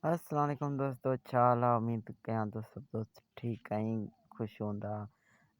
السلام عليڪم دوستو ڇا حال آ اميد ڪيان ٿو سڀ دوست ٺيڪ ۽ خوش هوندا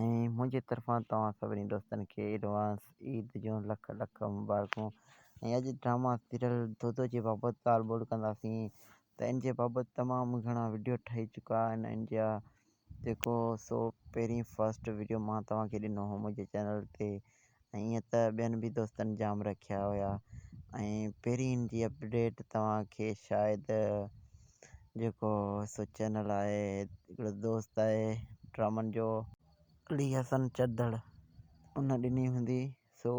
۽ منهنجي طرفان توهان سڀني دوستن کي ايڊوانس عيد جون لک لک مبارڪون ۽ اڄ ڊراما سيريل دودو جي بابت ڳالهه ٻولهه ڪنداسين ته ان جي بابت تمام گهڻا وڊيو ٺهي چڪا آهن ان جا جيڪو هو سو پهرين فرسٽ وڊيو مان توهان کي ڏنو هو منهنجي چينل تي ۽ ائين ته ٻين به دوستن جام رکيا هيا ۽ پهرين جي اپڊيٽ توهان کي شايد جيڪو سو چينل آهي هڪڙو دوست آهي ڊرامن جو علي حسن چدڙ ان ڏني هوندي سو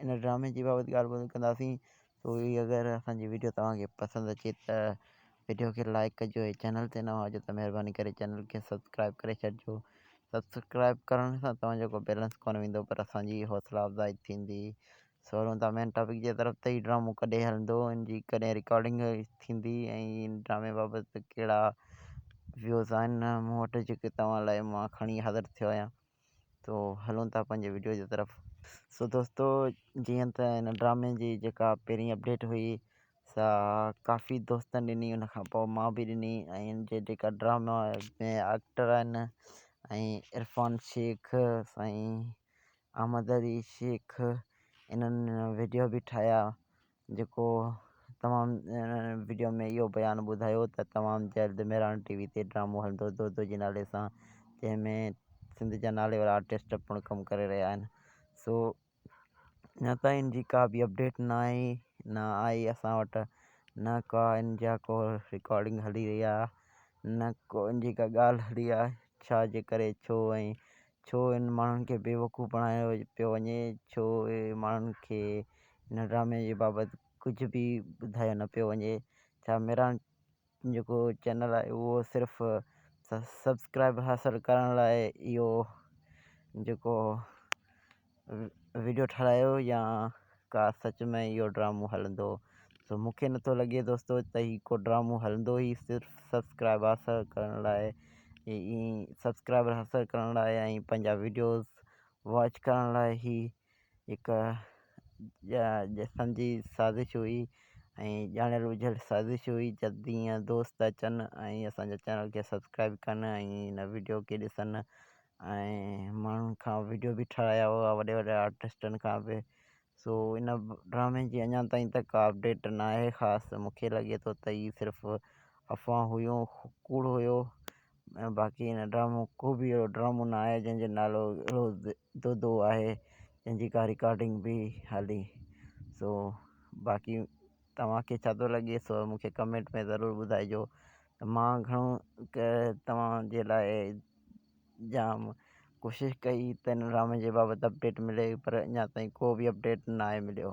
ان ڊرامي جي بابت ڳالهه ٻولهه ڪنداسين سو هي اگر اسان جي ويڊيو توهان کي پسند اچي ته ويڊيو کي لائڪ ڪجو ۽ چينل تي نوان هجو ته مهرباني ڪري چينل کي سبسڪرائب ڪري ڇڏجو سبسڪرائب ڪرڻ سان توهان جو ڪو بيلنس ڪونه ويندو پر اسان جي حوصلا افزائي ٿيندي سو هلون ٿا مين ٽاپڪ جي طرف ته هي ڊرامو ڪڏهن هلندو ان جي ڪڏهن رڪارڊنگ ٿيندي ۽ ان ڊرامي بابت ڪهڙا ويوز آهن مون وٽ جيڪي توهان لاء مان کڻي حاضر ٿيو آهيان تو هلون ٿا پنهنجي وڊيو جي طرف. سو دوستو جيئن ته هن ڊرامي جي جيڪا پهرين اپڊيٽ هئي سا ڪافي دوستن ڏني ان کان پوء مان به ڏني ۽ هن جي جيڪا ڊراما ۾ ايڪٽر آهن ۽ عرفان شيخ سائين احمد علي شيخ انهن وڊيو به ٺاهيا جيڪو توهان وڊيو ۾ اهو بيان ٻڌايو ته تمام جلد مهراڻ ٽي وي تي ڊرامو هلندو دودو جي نالي سان جنهن ۾ سنڌ جا نالي وارا آرٽسٽ پڻ ڪم ڪري رهيا آهن سو اڃا تائين ان جي ڪا به اپڊيٽ نه آئي نه آئي اسان وٽ نه ڪا ان جا ڪو رڪارڊنگ هلي رهي آهي نه ڪو ان جي ڪا ڳالهه هلي آهي ڇا جي ڪري ڇو ۽ ڇو انهن ماڻهن کي بيوقوف بڻايو پيو وڃي؟ ڇو اهي ماڻهن کي هن ڊرامي جي بابت ڪجهه به ٻڌايو نه پيو وڃي؟ ڇا ميران جيڪو چينل آهي اهو صرف سبسڪرائيب حاصل ڪرڻ لاء اهو جيڪو وڊيو ٺھرايو يا ڪا سچ ۾ اھو ڊرامو ھلندو سو مونکي نٿو لڳي دوستو ته اھي ڪو ڊرامو ھلندو اھي صرف سبسڪرائب حاصل ڪرڻ لاء اي اي سبسڪرائبر حاصل ڪرڻ لاء ۽ پنھنجا وڊيوز واچ ڪرڻ لاء اھي ھڪ جا جسم جي سازش ھئي ۽ ڄاڻيل ٻجھيل سازش ھئي جلدي ايئن دوست اچن ۽ اسانجا چينل کي سبسڪرائب ڪن ۽ ھن وڊيو کي ڏسن ۽ ماڻهن کان وڊيو به ٺاهرايا هئا وڏي وڏي آرٽسٽن کان به سو ان ڊرامي جي اڃا تائين ته ڪا اپڊيٽ نه آهي خاص مونکي لڳي ٿو ته هي صرف افواهون هيون ڪوڙ هيو ۽ باقي ان ڊرامو ڪو به اهڙو ڊرامو نه آهي جنهنجو نالو اهڙو دودو آهي جنهنجي ڪا رڪارڊنگ به هلي سو باقي توهانکي ڇا ٿو لڳي سو مونکي ڪمينٽ ۾ ضرور ٻڌائجو ته مان گهڻو ڪه توهان جي لاء جام ڪوشش ڪئي ته هن ڊرامي جي بابت اپڊيٽ ملي پر اڃا تائين ڪو به اپڊيٽ ناهي مليو.